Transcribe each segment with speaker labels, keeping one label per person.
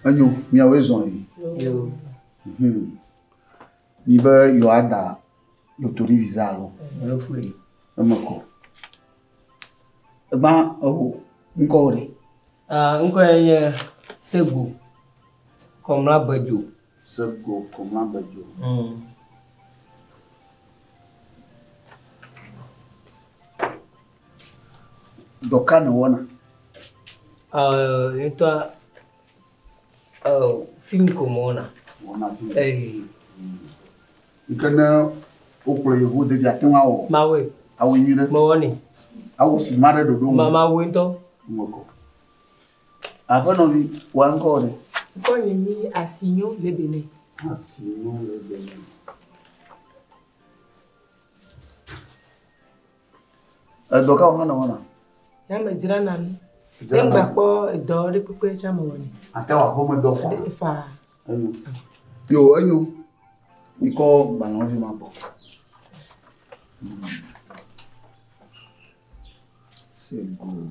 Speaker 1: enyo miawoe zɔ yi
Speaker 2: mhm.
Speaker 1: mi be yewoada lotori visa alo
Speaker 2: eme kɔ
Speaker 1: egba eho ŋkɔ wo ɖe. ŋkɔ yɛ
Speaker 2: nye sego kɔmla bedzo. Se go ko
Speaker 1: ma be dzo. Dɔ ka nèwɔna?
Speaker 2: Ŋutɔa, fim ko mewɔna. Wɔna fim. Eyi.
Speaker 1: Yi ke ne wokplɔ yevu ɖevi ate ŋu awɔ. Mawɔe. Awɔe nyuie
Speaker 2: ɖe. Mewɔnɛ. Awɔ sinima
Speaker 1: ɖe ɖoɖo nu. Mawɔe ŋutɔ.
Speaker 2: Ŋmekɔ.
Speaker 1: Aƒenɔvi, wòa ŋkɔwò ɖe? Ŋkɔnye nyi
Speaker 3: Asinyo Lebene. Asinyo
Speaker 1: Lebene. Edɔ kawo hã nèwɔna? Ya medzrana
Speaker 3: nu. Dzrana. Ŋgba kpɔ edɔ ɖe kpekpe tsɛ mewɔnɛ. Àte wɔ aƒemedɔ
Speaker 1: faa? Faa. Enyo. Yo, enyo. Mikɔ gbalẽwo vi ma gbɔ. C'est good.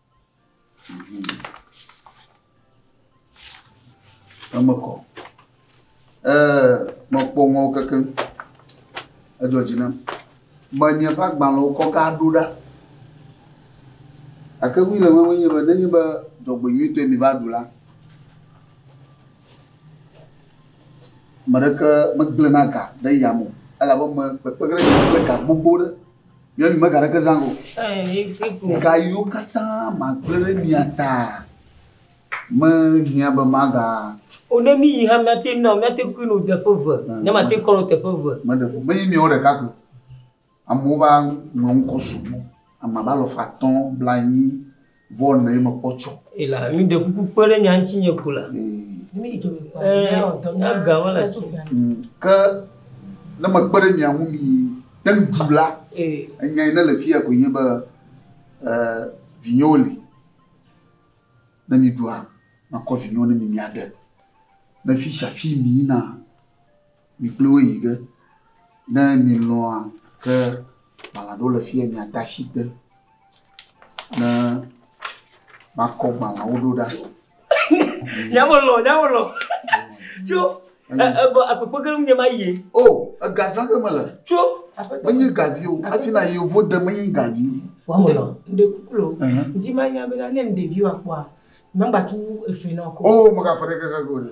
Speaker 1: Eme kɔ. Ee, mekpɔ ŋɔwo kekeŋ. Edzɔ dzi nam. Menye ƒe agbalẽwo kɔ ka ɖo ɖa. Gake nu le eme nye be nenye be dzɔgbenyuitɔe mi va ɖu la, me ɖeke megblẽ na ga ɖe yame o. Elabe me kpekpe ge ɖe kple ga gbogbo ɖe. Nyɔnu mega ɖeke zã o. Ga yiwo katã magblẽ ɖe mia ta mehiã be maga. O ne mí yi hã
Speaker 2: míate ŋu nɔ míate kui nɔ teƒe eve. Ne mate ŋu kɔ nɔ teƒe eve. Meɖe fu menye miawo ɖeka
Speaker 1: koe. Amewo va ŋlɔ ŋkɔ sugbɔ. Ame abe alɔfa atɔ̃ blaenyi. Vɔ nɛ mekpɔ tsɔ. Ela mi ɖe kuku
Speaker 2: kpe ɖe nya ŋutinye ko la.
Speaker 3: Ega
Speaker 2: mele so. Ke
Speaker 1: ne mekpe ɖe mia ŋu mi te ŋu bu la, enya yi ne le fiya koe nye be vinyewo li. Ne mi ɖua, makɔ vinyewo ne mi miaɖe. Ne fishafi mi yina. Mi kpli wo yi ge. Ne milɔ̃a ke gbalẽ aɖewo le fi ye miade asi te ne makɔ gbalẽawo ɖo ɖa.
Speaker 2: Nyamelɔ, nyamelɔ. Tso ebɔ akpekpe ke nye ma yie. O, egazã
Speaker 1: ke mele. Tso. Menye
Speaker 2: gavi o.
Speaker 1: Hafi na yevo de menye gavi. Wamelɔ. Ɖe
Speaker 2: kuku lo.
Speaker 3: Ŋuti ma nya be ne ɖeviwo akpɔa, magba tu efe na wo. O, magafe ɖe keke go
Speaker 1: ɖe.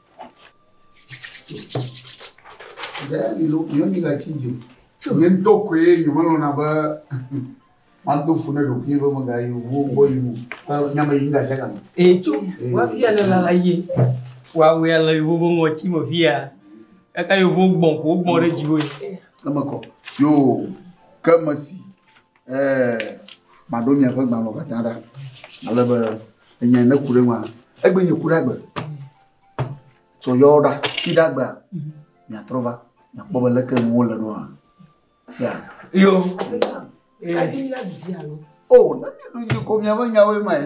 Speaker 1: Nye ŋutɔ koe nyemelɔ̃na be mado fu ne ɖokuinye be megayi wo gbɔ yi o. Nya me yim gasiagame. Ee, tso
Speaker 2: wafia le lala ye. Wawea le yewo be ŋɔti me fia. Eka yewo gbɔn ko gbɔn ɖe dziwò. Eme kɔ.
Speaker 1: Yo, ke mesi maɖo miaƒe gbalẽwo katã ɖa ale be enya ne ku ɖe ŋua egbe nye ku ɖe agbe tsɔ yɔ ɖa fi ɖe agbea miatrɔ va miakpɔ be leke nuwo le ɖo hã sia
Speaker 2: yo
Speaker 3: o na mi ɖu
Speaker 1: dzi ko miaƒe nyawoe mae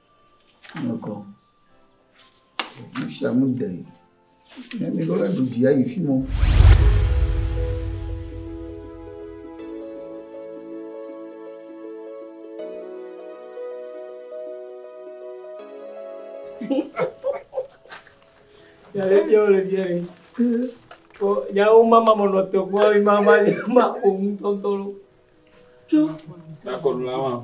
Speaker 1: Nyɔkɔ. Nu sia nu de. Ne mi ɖo la ɖu dzi ayi fi mɔ.
Speaker 2: Ya le bia le bia le. Ko ya o mama mo no to ko mama ni ma o mu tontolo. Tjo. Sa ko
Speaker 4: la wa.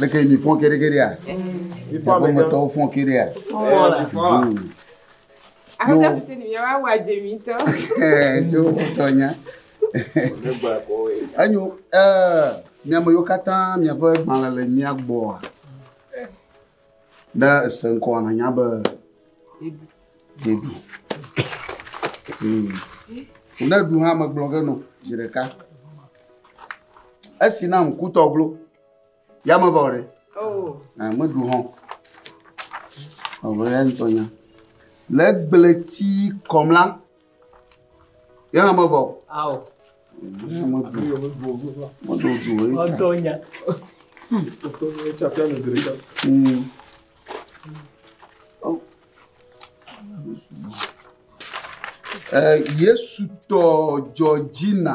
Speaker 1: Leke mi fɔ keɖekeɖea?
Speaker 4: Aƒemetɔwo fɔ keɖea?
Speaker 2: Aƒetɔ
Speaker 3: bi se ni mi wa wa dze mi tɔ. Tso
Speaker 1: tɔ nya. Enyo miame yiwo katã miaƒe gbalẽ le mia gbɔa. Ne èse ŋkɔa, nànya be ɖeɖu. Hmm. Ne ɖu hã megblɔ ge nɔ zi ɖeka. Esi na ŋkutɔ glo, ya mevɔ ɖe. Oh. Eh,
Speaker 3: meɖu hã.
Speaker 1: Ɔwɔ ya ŋutɔ nya. Le gblẽti kɔm la, Yɛna mevɔ o.
Speaker 2: Ao.
Speaker 1: Ɔdɔ
Speaker 4: nya.
Speaker 1: Yesu tɔ Georgina.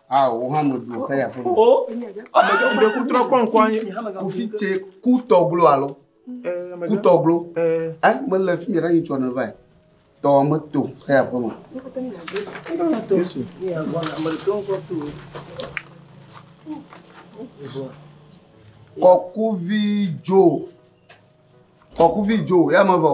Speaker 4: Ao, wò hã nɔ
Speaker 1: du xeya ƒe me.
Speaker 2: O, ɖe ku
Speaker 4: trɔ kpɔ ŋkɔ anyi. Kufi tse
Speaker 1: ku tɔglo alo. Ku tɔglo. Ɛ, mele fi mi ɖe anyi tsɔ ne va yi. Tɔ me to xeya ƒe me.
Speaker 2: Yesu. Kɔkuvi
Speaker 1: dzo. Kɔkuvi dzo, ya me vɔ.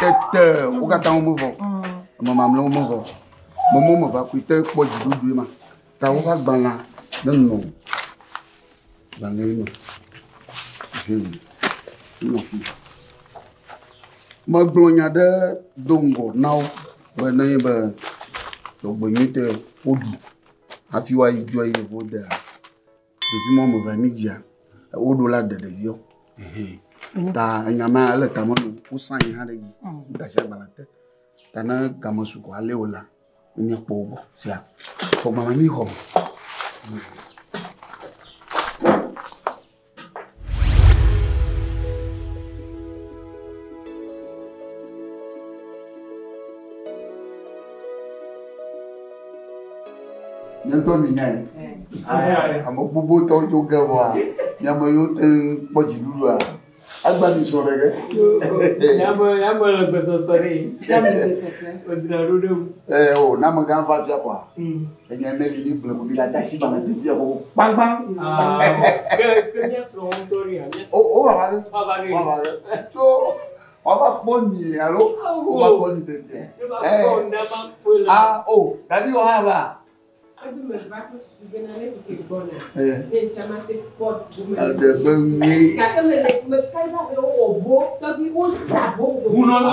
Speaker 1: Tete wo katã womevɔ, ame mamlɛwo mevɔ. Mɔmɔ meva koe te kpɔ dziɖuɖue ma. Ta woƒe agbalẽa nenɔ gbalẽ yi me. Hum. Nenɔ fi. Megblɔ nya ɖe do ŋgɔ na wo be ne ye be dzɔgbenyui te woɖu hafi woayi dzɔa yi yevo dea. Ɖevi mɔ me vɛ mi dzia, wo ɖo la ɖe ɖeviɔ. Ta enya ma ele tame no, wo sa yi hã ɖe yi, da shi agbala te. Ta ne game su ko ale wo la, mi kpo wo gbɔ. Sia. Fɔ gbala mi xɔ. Míaŋutɔ mìnyae, ame gbogbotɔwo dzo ge vɔa, mía me yiwo te ŋu kpɔ dziɖuɖua, agba mi srɔ̃ ɖe ge. Míaƒe míaƒe le gbesɔsɔ ɖe. Míaƒe gbesɔsɔ. Wodra ɖo ɖe ŋu. Ee, o, ne amegã va afia vɔa, mm. enya ne li mí ble ko mí la de asi gbalẽ de fia ko kpankpan. Ah, ke ke
Speaker 2: mía srɔ̃ ŋutɔ ɖe ya. O, o va va ge.
Speaker 1: Va va ge. Va va ge. Tso Wova kpɔ nyuie alo wova kpɔ nyi tete. A o dadi wɔ hã va. Adebe nyuie. Wunɔ nɔ.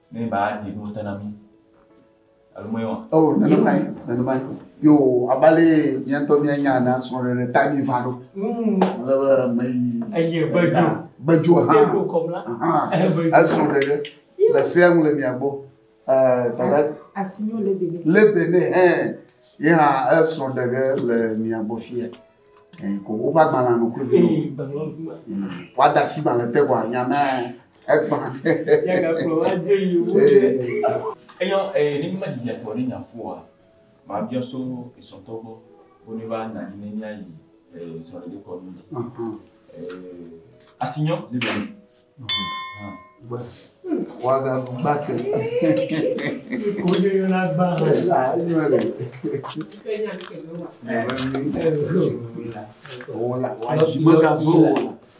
Speaker 5: Ne ba ɖi nu ta na mi. Alo me wa. Oh,
Speaker 1: nenemae, nenemae. Yo, abale miatɔ mia nya na sɔre ɖe ta mi va ɖo. Mm. Ale be me yi. Eye bejo.
Speaker 2: Bejo
Speaker 1: ha. Se ko kom la.
Speaker 2: Aha. Eso ɖe
Speaker 1: ɖe. Le se ŋu le mia gbɔ. Eh, dada. Asinyo
Speaker 3: le bene. Le
Speaker 1: bene, eh. Ye ha eso ɖe ɖe le mia gbɔ fia. Eh, ko wo ba gbala no ko vi. Eh, gbala. Wa da si gbala te wa nya na. Egbã. Ye
Speaker 2: ga kplɔ va dze yi wu ɖe. Eyɔ
Speaker 5: eye ne mi ma didi atɔ ne nya ƒoa, ma biɔ so esɔtɔ gbɔ wo ne va nanyi ne mia yi e sɔ ɖe ɖe kɔ nu. Asi nyɔ ne ɖe.
Speaker 1: Wa ga gba te. Ko
Speaker 2: ne yo na gba. La nyɔ le. Ke nya ke
Speaker 1: ne wa. Ne ba mi. Wo la. Wa ji ma ga vo.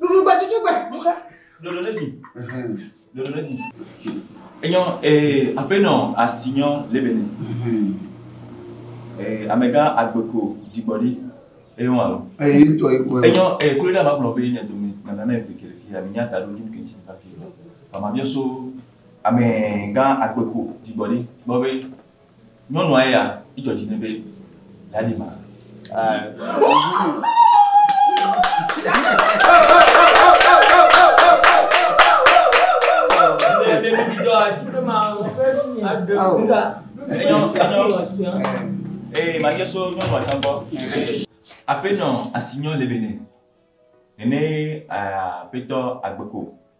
Speaker 3: Ɖuɖugbe tsutsugbe.
Speaker 5: Ɖoɖo ɖe dzi. Ɖoɖo ɖe dzi. Enyɔ ee aƒenɔ asinyɔ le bene. Ee amegã agbeko dzigbɔɖi eye wɔn alo. Eye ŋutɔ yi kpɔe. Enyɔ ee klo ɖe ama gblɔ be nye dome nana ne eve kele fi ami nya ta ɖo ɖi ke ŋuti va fi. Bama biɔ so amegã agbeko dzigbɔɖi gbɔ be Nyɔnua ya dzɔ dzi nɛ be yeaɖi ma. Ee, ma bia so nyɔnua tsã gbɔ be aƒenɔ asi nyɔ le be nɛ. Nene aƒetɔ agbe ko.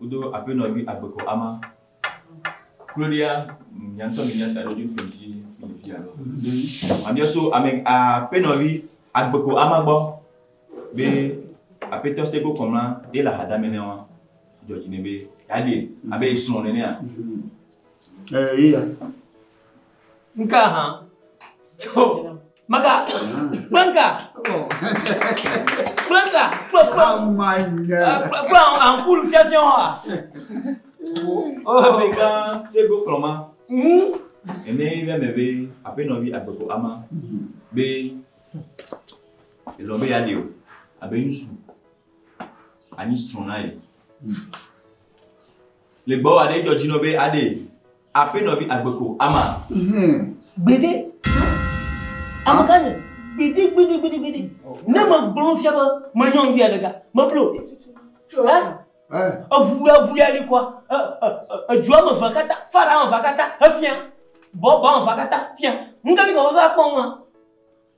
Speaker 5: Wodo
Speaker 3: aƒenɔ
Speaker 5: vi agbekɔ ama. Kloɖia nya ŋutɔ mi nya ta ɖo dzoto ŋuti mi fi alo. Mamia so ame aƒenɔ vi agbekɔ ama gbɔ be aƒetɔ se go kɔmla ye le hadame ne wa dɔ dzi ne be ya de abe esrɔ̃ nenea.
Speaker 1: Eya.
Speaker 3: Nka hã. Tso. Maka. Kplanka. Kplanka. Kpla kpla. Amanya. Kpla kpla ankulu fiafiã wa.
Speaker 5: Abega sego kplɔma. Ene yi bɛ mɛ be apenɔ bi agbeko ama be elɔ be ya de o abe ŋutsu anyi srɔ̃ na ye. Le gbɔ wa ɖe edzɔ dzi nɔ be aɖe. Aƒe nɔvi agbe ko ama. Hum. Gbeɖe.
Speaker 3: Amegã nye. Gbeɖe gbeɖe gbeɖe gbeɖe. Ne me gblɔ nu fia be me nyɔnuvi ya ɖeka. Me blo. Ɛ. Ɛ. Eʋu ya ʋu ya li kɔa. Ɛ ɛ ɛ edzo ame ʋa kata fa ɖa ame ʋa kata efia. Bɔ bɔ ame ʋa kata fia. Ŋka mi kɔ be va kpɔ ŋua.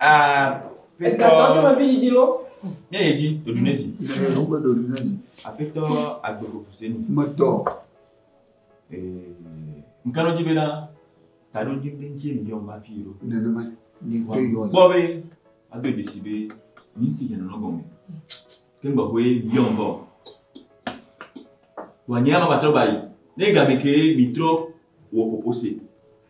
Speaker 3: Aƒetɔ ne yɛ di ɖoɖu
Speaker 5: ne zi. Wogbe ɖoɖu ne zi.
Speaker 1: Aƒetɔ
Speaker 5: agbeƒoƒo se ni. Metɔ. Ŋkanɔ dzi be na taɖo dzi be ŋuti mi yɔm hafi ɖo. Nenema ni
Speaker 1: to yɔ. Kpɔ be
Speaker 5: ado dzesi be mi si dze nɔnɔ gɔme. Ke ŋgɔ ƒe mi yɔm bɔ. Wòanye ama batrɔ ba yi. Ne game ke mi trɔ wɔ ƒoƒo se.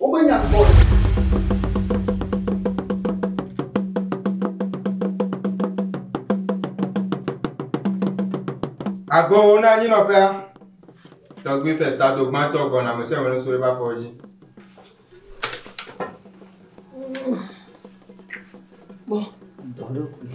Speaker 6: Womenya kpɔ o. Agɔwo na anyinɔƒea. Tɔgbui Festa do gbãtɔ gbɔna me sɛwɛ nusu ɖe bafɔ dzi.
Speaker 3: Bɔ. Dɔɖokui.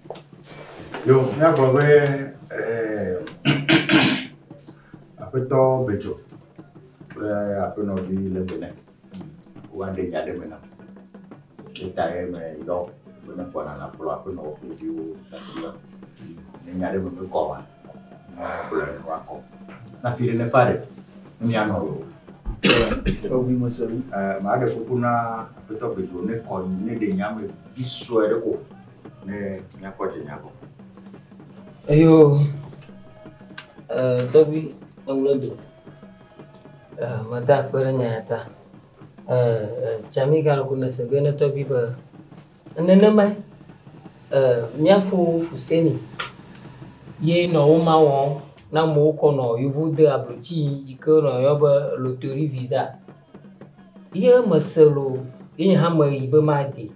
Speaker 7: Yo, míagblɔ be eh, aƒetɔ Bedzo kple aƒenɔvi Lebene woaɖe nya ɖe me nam. Etae meyɔ be ne kpɔna nakplɔ aƒenɔ ƒe viwo afi ma. Ne nya ɖe me mekɔ oa, nakplɔe ne woakɔ. Na fi ɖe nefa ɖe, ne mianɔ loo.
Speaker 1: Eŋui mese nu. Eh, maɖe kuku
Speaker 7: na aƒetɔ Bedzo nekɔ neɖe nya me vi sue ɖe ko. ne míakpɔ
Speaker 3: dze nya gbɔ. Eyo eh, tɔgbi eŋlɔ do eh, meda akpe ɖe nya ya ta eh, eh, tsami galoko nese ge ne tɔgbi be nenemae eh, míafo fuseni ye nɔ wo ma wɔm na amewo kɔ nɔ yevu de ablotsi yi ke nɔ yɔ be lotori visa Ye mese loo, ye nye hã meyi be madi.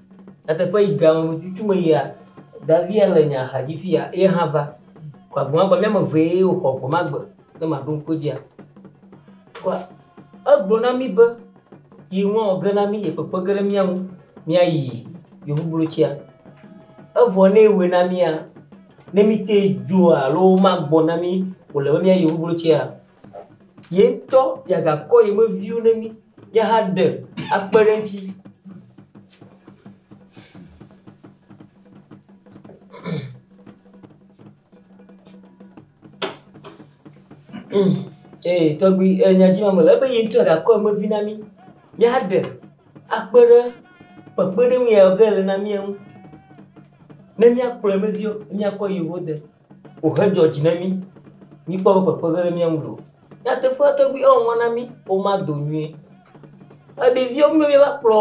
Speaker 3: Nyateƒe yi ge ame bututu me yia, davi ya le nye axa dzi fi ya ye hã va. Kpɔ agbe ma gbɔ, míame eve ye wò xɔ gbe ma gbe ne maɖo ŋku edzia. Kpɔ egblɔ na mí be ye ŋua wɔ ge na mí, ye kpekpe ge ɖe mía ŋu míayi yevublotia. Evɔ ne ewɔe na mía, ne mí te dzoa alo magbɔ na mí wòle be míayi yevublotia, yeŋtɔ yagakɔ ye me viwo ne mí yahã ɖe akpe ɖe eŋutsi. Mm, ee, tɔgbi e, nya dzi ma mele ebe ye ŋutɔ gakɔ ye me vi na mí míaɖe akpe ɖe kpekpeɖeŋu ya ke le na mía ŋu ne míakplɔ ye me viwo míakɔ yewo de. wòhedzɔ dzi na mí. Míkpɔ eƒe kpekpeɖeŋu ɖe mía ŋu loo. Nyateƒea tɔgbi ewɔwɔ na mí woma do nyuie. Ɖeviwo míwo míeva kplɔ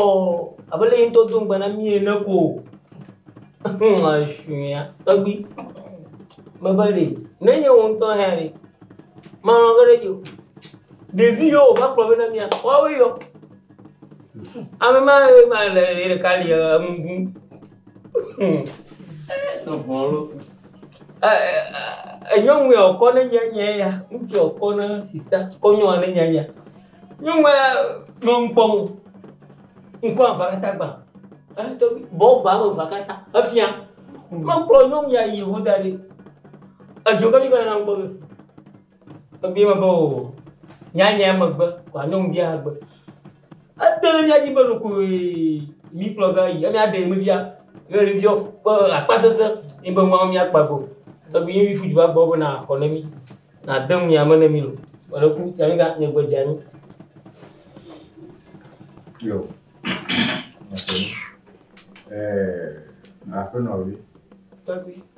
Speaker 3: abe lé yeŋtɔ do ŋugbe na mí ene ko o. Eshuia tɔgbi mebe ɖe ne nye wò ŋutɔ hãe ɖe malɔ̃ ge ɖe edzi o. Ɖevi yewo wòva kplɔ vɛ na mía woawoe yɔ. Ame ma ye ma le ye ɖeka li enu ɖum. enyɔnu ya ɔkɔ ne nye nye ya ŋutsu ya ɔkɔ ne sista kɔ nyɔnua ne nye ya nyɔnua nɔ nu kpɔm o ŋkɔ aʋa katã gbã eto bɔ ʋa me ʋa katã efia mekplɔ nyɔnu ya yi ŋu da ɖi edzo ke mi va nɔ nu kpɔm. Ebia be oo, nyanya megbe, kɔ anyɔnuvia agbe. Ede ɖe mía dzi be ɖokoe mí kplɔ va yi. Emi aɖe mi fia be ɖevia kpɔ akpa sese ye be nua mía kpa go. Tɔgbi ye mí ƒu du va gbɔ be na xɔ ne mí, na de nu ya me ne mí lo. Vɔ ɖe ku ta mí ga nye gbe dze anyi.
Speaker 7: Yo. Aƒenɔ vi. Tɔgbi.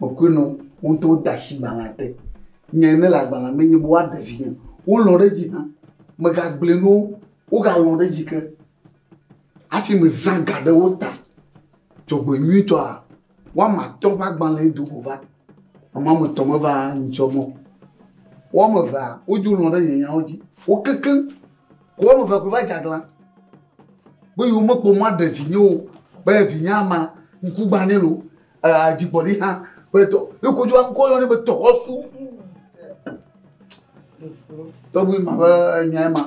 Speaker 1: Mekpɔe nɔ wo ŋutɔ wode asi gbalẽa te. Nya yi nele agbalẽa me enye be woaɖe vinye. Wolɔ̃ ɖe edzi hã. Megagblɔe na wo, wogalɔ̃ ɖe edzi ke hafi mezã ga ɖe wo ta. Dzɔgbenyuitɔa, woame atɔ̃ ƒe agbalẽe do go va. Ame woame etɔ̃ meva ŋutsɔ mɔ o. Woame evea, wodzo lɔ̃ ɖe nye nyawo dzi. Wo keklẽ. Ke woame evea koe va dze aglã be yewomekpɔ mɔ aɖe vinye o, be vinyea ma, ŋkugbãnɛ loo adzigbɔɖi hã ƒe dɔ ne ko dzo aŋkɔ yɔ ne be dɔwɔsu tɔgbi ma ƒe nya ma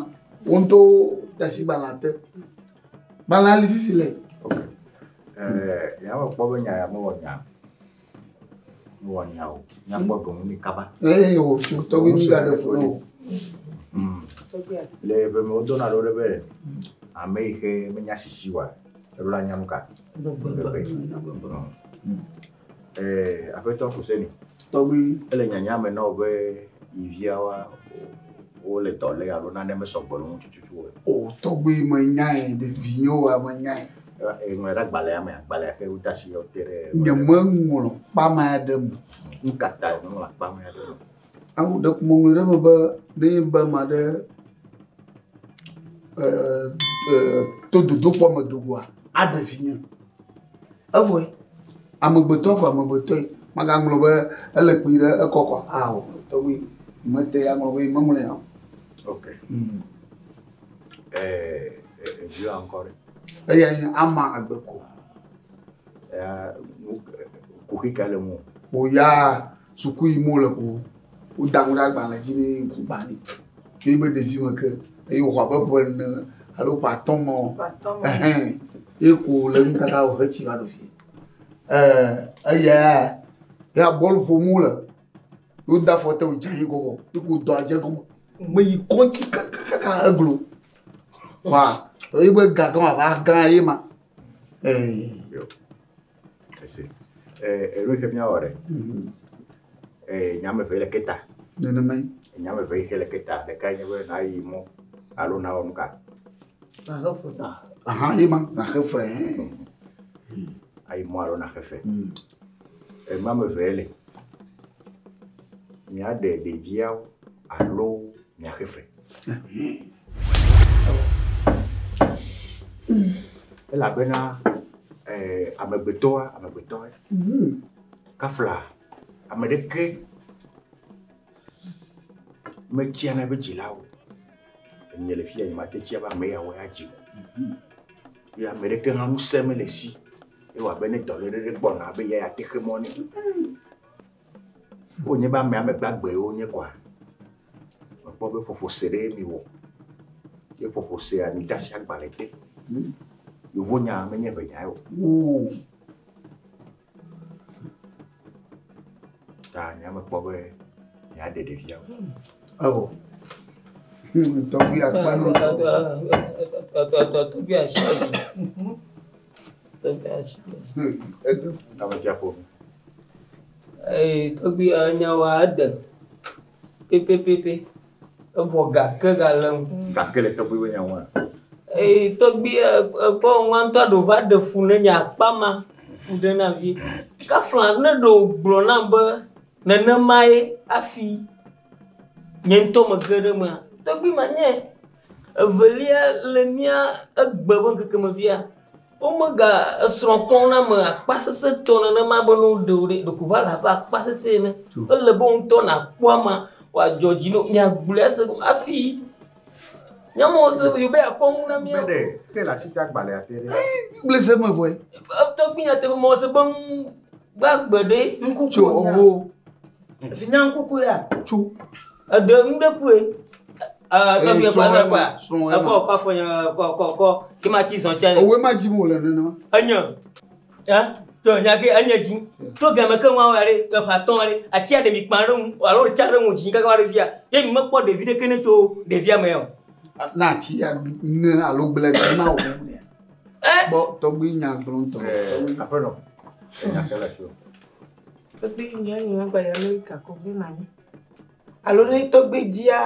Speaker 1: wo ŋutɔ dasi gbalẽ te gbalẽ ali fifi le.
Speaker 7: yàwɔ kpɔ be nya ya mewɔ nya mewɔ nya o nyakpɔ ɖoŋu ni kaba. eye o tso tɔgbi
Speaker 1: mi ga ɖe fo o.
Speaker 7: le ebe me wodɔna ɖo ɖe be ame yi xe menya sisi wa. Eɖo la nyam ka? Gbegbe. Eh, Aƒetɔ Kuseni. Tɔgbi. Ele
Speaker 1: nyanya me na wò
Speaker 7: be yi viawoa, wole dɔ lé alo nane mesɔ gbɔ le wo ŋu tututu o. O, tɔgbi,
Speaker 1: menyae, ɖevinyewoa, menyae. Eŋlɔe ɖe agbalẽa
Speaker 7: me, agbalẽa ke wode asi yɔ te ɖe. Nyemeŋlɔ
Speaker 1: kpamea ɖe eme. Nukatae
Speaker 7: nèŋlɔ kpamea ɖe eme? Awu ɖe ƒome
Speaker 1: ŋlɔe ɖe eme be ne enye be ame aɖe e e to dodokpɔ me do goa aɖe vinye. Evɔe amegbetɔ ko amegbetɔe magaŋlɔ be ele kpi ɖe ekɔ kɔ aa o tɔgbi mete ya ŋlɔ be meŋlɔ ya o. Ok. Mm.
Speaker 7: Eh, eh, vieux encore. Eya nye
Speaker 1: ama agbe ko. Eh,
Speaker 7: kuxi ka le mo. Oya.
Speaker 1: Suku yim wole ko woda nu ɖe agbalẽ dzi ne ye ŋku gbã nɛ. Tso yi be ɖevi me ke eye wòxɔ abe ƒe ene alo ƒe atɔ̃ me o. Ehɛn, ye ko le nu kaka wòhe tsi va ɖo fie. Ɛɛ eya ya bɔl ƒom wole. Woda afɔ te wòdze anyi gɔgɔ ye ko dɔa dze gɔme. Meyi kɔŋtsi kakakaka eglo. Wa ye be gagã wòava gã ye ma. Ɛɛ. Esi
Speaker 7: eɖo xe mía wɔ ɖe. Nya ame eve le keta. Nenemae.
Speaker 1: Nya ame eve xe le
Speaker 7: keta. Ɖeka nye be na yi mɔ alo na wɔ nu ka. Na xe fe. Aha
Speaker 1: ye ma na xe fe.
Speaker 7: Ayi mɔ alo na xe fe. Hmm. Ema ame eve le. Mía ɖe ɖeviawo. alo miaxe fe. Elabena eh, amegbetɔa, amegbetɔe, mm-hmm. kafla ame ɖeke metsia na eƒe dzilawo. Enye le fia nyemate tsia be ame yawo ya dzi. Mm-hmm. Ye ame ɖeke hã ŋusẽ mele si. Ewɔ abe ne dɔléle ɖe gbɔna be ya ya texe mɔ ne. Wonye be ame ame gbagbewo wonye koa, mekpɔ be ƒoƒo se ɖee miwɔ. Ye ƒoƒo sea, mide asi agbalẽ te. Yevonya menye ʋe nyae o. Woo. Ta nya mekpɔ be miaɖe ɖevia o. Eo.
Speaker 1: Tɔgbi akpa nɔ.
Speaker 3: Tɔgbi asi. Tɔgbui ya nya wa ede pɛpɛpɛpɛ. Evɔ ga ke ga le ŋu. Ga ke le tɔgbui be
Speaker 7: nya wa. Eye tɔgbui
Speaker 3: ya ekpɔ ŋua ŋutɔ ɖe wova ɖe fu ne nye akpa ma fu ɖe na vi. Kafla ne ɖe wogblɔ na be nenema ye afi nye ŋutɔ me ge ɖe emea tɔgbui ma nye. Evelia le mía egbe ƒe ŋkeke me fia. Womega esrɔ̃ kpɔm na ame akpasesẽtɔ nenema be ne woɖe o ɖe, ɖeko va le abe akpasesẽ ene. Ele be wò ŋutɔ nàkpɔ amea wòadzɔ dzi na wò. Mìagblɔe ase ɖo hafi nyemose be yewo be yeakpɔ nu na mía
Speaker 7: o. Gblese me
Speaker 1: vɔe. Etɔgbi nyateƒe
Speaker 3: mewɔse be nu gbagbe ɖe. Ŋku tso oho.
Speaker 1: Efinyaŋkukue
Speaker 8: ya tso.
Speaker 1: Eɖe nu
Speaker 3: ɖe kue. Tɔgbuiɛ kpɔ na kpɔa? Ekɔ kɔ afɔ nye kɔ kɔ kɔ ke ma tsi zɔn tsia. Ewe ma dzim wòle
Speaker 1: nenema. Enye ɛ
Speaker 3: tɔ nya ke enye dzi tso gɛmɛ ke ŋua wɔa ɖe eƒe atɔ ɖe atsia ɖe mi kpa ɖe ŋu alo ɖe tsa ɖe ŋu dzi kaka va ɖe fia ye mi mekpɔ ɖevi ɖeke ne tso ɖevia mɛ o. Na atsi ya
Speaker 1: ne alo gblẽ ɖe na wò ne. Kpɔ tɔgbui nya gblɔ ŋutɔ. Aƒenɔ. Enya ke le
Speaker 7: fi o. Tɔgbui
Speaker 8: nyea nye megba yi Amerika ko gbi ma nyi alo ne tɔgbui dzia,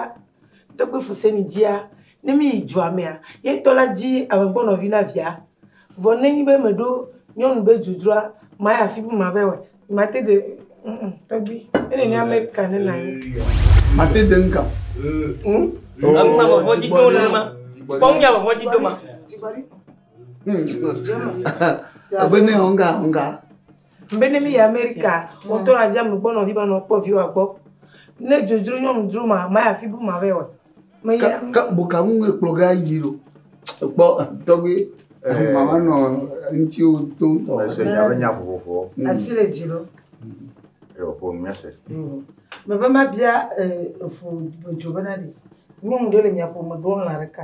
Speaker 8: tɔgbui Fuseni dzia, ne mí yi dua mea, ye ŋutɔ la dzi ame gbɔ nɔvi na via. Vɔ ne nyi be meɖo nyɔnu be dudua, mayi afi bu ma vayi wɔe. Mate ɖe ŋ ŋ tɔgbui. Ne nènye Amerika ne nàyi. Mate ɖe ŋ
Speaker 1: ga. Ŋ? Enu
Speaker 3: ma vɔvɔ dzi dom
Speaker 1: nenema. Kpɔ nu ya vɔvɔ dzi doma. Ŋ ŋ. Abe ne ŋ ga ŋ ga. Be ne mi
Speaker 8: yi Amerika, wò tɔ na dzi ame gbɔ nɔ vi ma nɔ kpɔ viwa gbɔ. Ne dzodzro nyɔnu dzro ma, ma ya fi bu ma vɛ wɛ. Me ya. Ka, ka
Speaker 1: boka ŋu ŋue kplɔ ga yi ɖo. Ekpɔ tɔgbe. Eh. Mama nɔ ŋuti wo to ŋutɔ. Me se nya be nya
Speaker 7: vovovowo. Asi le dzi ɖo.
Speaker 8: Eyo
Speaker 7: ƒo nu mia se. Me be
Speaker 8: ma bia eh, efu dzo be na ɖe nyɔnu ɖe le mia ƒo me ɖo lã ɖeka.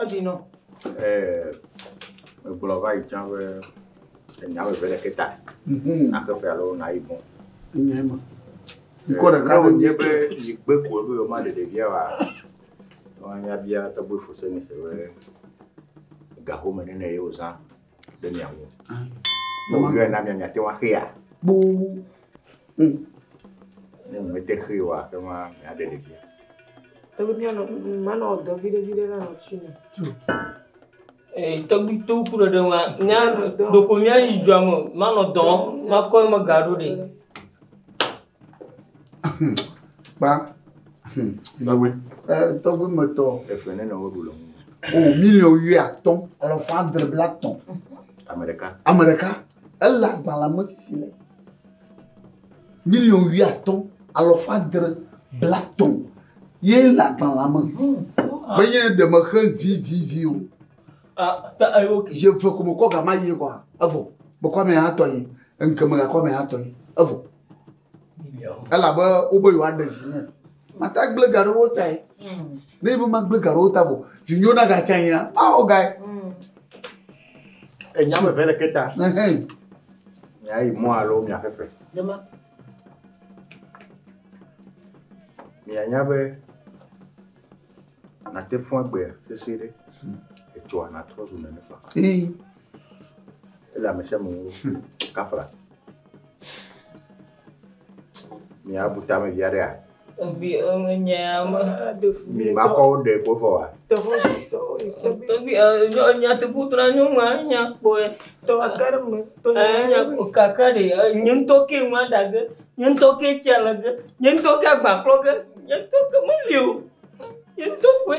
Speaker 8: Edzi nɔ. Ɛɛ,
Speaker 7: megblɔ va yi tsã be enya ame eve ɖeke ta. Mhm. Naxe fe alo nayi bɔ. Enyae ma.
Speaker 1: Ŋkɔ eh, ɖeka ɖe nye be yigbe
Speaker 7: ko be yoma ɖe ɖevia wa. Wọn ya bia tɔgbe fose mi se be gahome nene ye wozã. ɖe mia ŋu. Ne wòyɔe na mia miate ŋu axea?
Speaker 1: Kpoo.
Speaker 7: Mm. Ne mete xee oa, ate ŋu aɖe ɖevia. Tɔgbi
Speaker 8: mianɔ manɔ dɔ viɖe viɖe la nɔ tsi me. Ee,
Speaker 3: tɔgbi to ku ɖe ɖe ŋua, mia ɖoko mia yi dzɔa me, manɔ dɔ, makɔ eme gaɖo ɖe.
Speaker 1: kpa hm
Speaker 7: tɔgbe e tɔgbe
Speaker 1: metɔ efe ne nɔ woɖu
Speaker 7: le ŋu o miliɔn
Speaker 1: wuiatɔ̃ alafa adre bla tɔ ame ɖeka ame ɖeka ele agbalẽ me fifi le miliɔn wuiatɔ̃ alafa adre bla tɔ ye le agbalẽ me menye ɖe mexe vivivi o je ve ko mekɔ gama yie kɔa evɔ mekɔ ame hatɔ yi ŋkeme gakɔ ame hatɔ yi evɔ elabe wobe yewoaɖe vinye mata gblẽ ga ɖe wo tae ne ibe magblẽ ga ɖe wo ta vɔ vinyewo nagatsi anyi la mawɔ gae
Speaker 7: enya me ʋɛ le ke ta miayi mɔ alo miaƒeƒe mianya be nate fún agbe sese ɖe etsɔa natrɔ zu nene fa ele ame sia ame ŋu kafla Mi abu tame via ɖea? Ebi enye
Speaker 3: ame. Mi ma kɔ
Speaker 7: wo ɖe ko fɔ wa.
Speaker 3: Ebi enya te bu tra nyo ma nya kpo e. To akare
Speaker 8: me. To nya kpo kaka
Speaker 3: de nye ŋutɔ ke ma da ge. Nye ŋutɔ ke tsia le ge. Nye ŋutɔ ke agba klɔ ge. Nye ŋutɔ ke me li o. Nye ŋutɔ koe.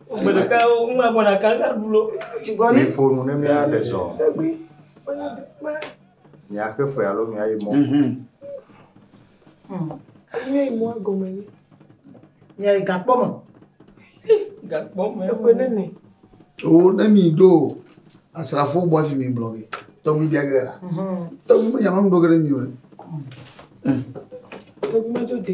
Speaker 3: Miƒo nu
Speaker 7: ne míaɖe zɔ. Míaxe fe alo míayi mɔ.
Speaker 8: Míayi gakpɔ me. Oo ne
Speaker 1: mìɖo asrafo bɔ hafi migblɔ be tɔgbi bia ge la. Tɔgbi menya mɔnu ɖo ge ɖe mì o ɖe.
Speaker 8: Tɔgbi medo de.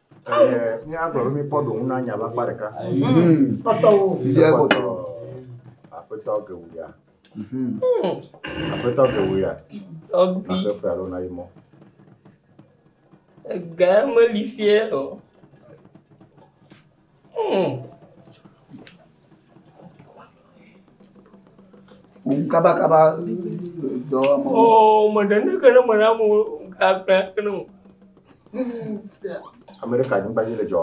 Speaker 7: Míagblɔ be míkpɔ ɖoŋu na nya ƒe akpa ɖeka. Kpɔtɔwo.
Speaker 8: Yɛ kpɔtɔ.
Speaker 1: Aƒetɔ
Speaker 7: Gewuya. Aƒetɔ Gewuya. Tɔgbi.
Speaker 3: Aƒe fea lona yi mɔ. Ega meli fiɛ o.
Speaker 1: kabakaba dɔwɔmɔ. Oo me ɖe ne
Speaker 3: ke ne me ɖe amewo gagba ke ne o.
Speaker 7: Ame ɖe ka anyigba dzi le dzɔ.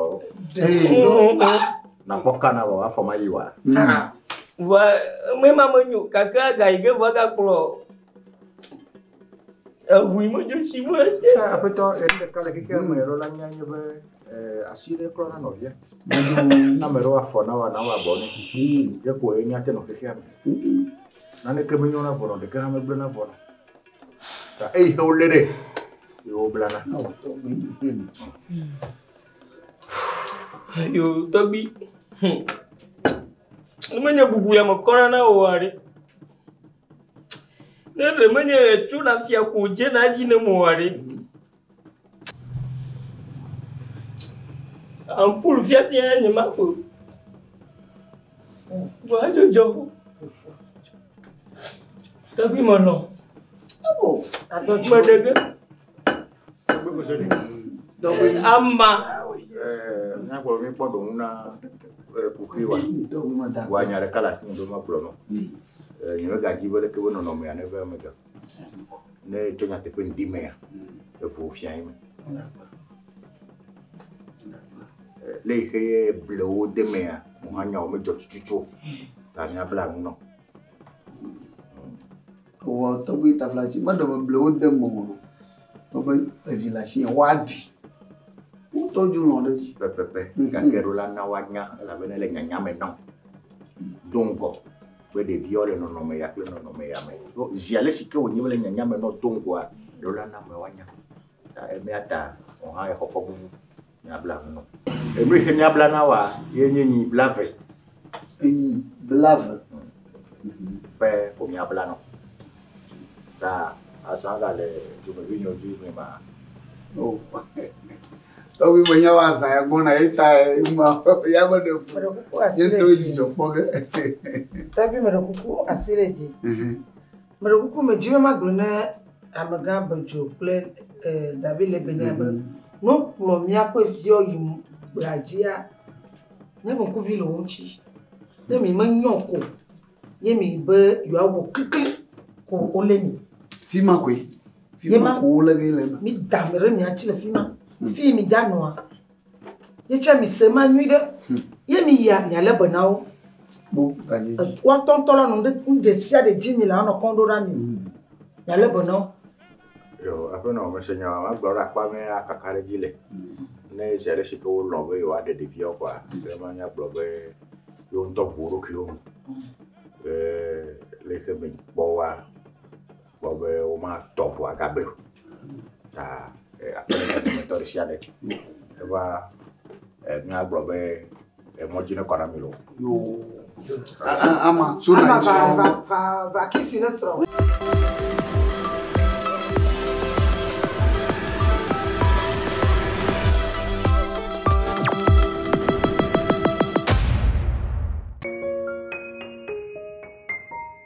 Speaker 7: Nakpɔ ka na wɔ afɔ ma yi wa. Vɔ
Speaker 3: me ma me nyo kakra ga yi ke vɔ ga kplɔ. Eŋui medzo tsi me esi hã. Aƒetɔ, ɣe
Speaker 7: ɖeka le xexea me ɖo la nya nye be asi ɖe kura na nɔvia. Medzo na me ɖewo afɔ na wa na wa bɔ ne. Ye ko ye nya te nɔ xexea me. Naneke menyo na vɔ nɔ ɖeke hã megblẽ na vɔ nɔ. Ta eyi xe wo lé ɖe. Ye wo blana.
Speaker 3: Yo tɔgbi. Hm. Ne menye bubu ya me kɔna na wo aɖe. Ne ɖe menye ɖe tso na fia ko dze na edzi ne mo aɖe. Ampul fiafia nye ma ko. Vɔ edzo dzɔ. Tɔgbi me nɔ. Abo.
Speaker 8: Atɔ tsi. Mɛɖege.
Speaker 3: Ama.
Speaker 7: Míakpɔ be míkpɔ ɖoŋu na kuxi wa. Wa nya ɖeka le asime be magblɔ nɔ. Nyemegadi be leke be nɔnɔmea neve eme ke. Ne tso nyateƒe ŋdi mea, evo fia ye me. Le yi xe ye blewo de mea, mo hã nyawo medzɔ tututu o. Ta míabla nu nɔ.
Speaker 1: Ewɔ tɔgbi taflatsi be ɖewo ble wo de mɔ me o be evi le asi woa ɖi. Wotɔ dzo lɔ ɖe edzi. Pɛpɛpɛ gake
Speaker 7: ɖo la na woanya elabena ele nyanya me nam. Do ŋgɔ be ɖevia le nɔnɔme ya kple nɔnɔme ya me. Ɖo zi ale si ke wònye be le nyanya me nɔ do ŋgɔa ɖo la na ame woanya. Ta emea ta wò hã exɔ fɔbubu miabla nu nɔ. Enu yi ke miabla na woa, ye nye nyi blave. Nyi blave.
Speaker 1: Hmm. Ƒe
Speaker 7: ko miabla nɔ. Ta azã ga le dumevi nyo dzi mi ma. O.
Speaker 1: Tɔgbi me nyawo azã ya gbɔna ye ta ma ya me ɖe fu. Ye to dzi dzɔ kpɔ ge. Tɔgbi me ɖe kuku asi le dzi. Mhm. Meɖe kuku medzi be magblɔ ne amegã Bedzo kple David le benye be, mhm. ne wokplɔ míaƒe viwo yi gbea dzia, ne ŋkuvi le wo ŋuti.
Speaker 8: Ne mi menyɔ ko, ye mi be yewoawɔ klikli ko wolé mi. Fi ma koe. Fi ma ko wolé ge le eme. Mi da mi ɖe mia ŋuti le fi ma. Mhm. Fi mi dza nɔa, Ye tsɛ mi se ma nyuiɖe. Hm. Ye mi yia mia le be na wo. Kpo
Speaker 1: ganye. Wa tɔn tɔ la nɔ
Speaker 8: ɖe nu de sia de dzi mi la nɔ kɔn ɖo ɖa mi. Hm. Mia le be na wo. Yo,
Speaker 7: aƒe nɔ me se nya wa ma gblɔ ɖe akpa me ya kaka ɖe dzi le. Hm. Ne sia ɖe si ke wo lɔ be yo wa ɖe ɖevia wo kwa, hm. ke ma nya gblɔ be yo ŋtɔ ʋu ɖokuiwo me. Hm. Ke le ke me kpɔ wa. kpɔ be womatɔ ŋua gagbe o ta aƒe me dometɔ ɖe sia ɖe eva ŋua gblɔ be emɔ dzi nekɔ na mi loo.
Speaker 1: Ama so
Speaker 8: na yi srɔ̃. va
Speaker 1: va
Speaker 8: va kisi ne
Speaker 1: trɔ.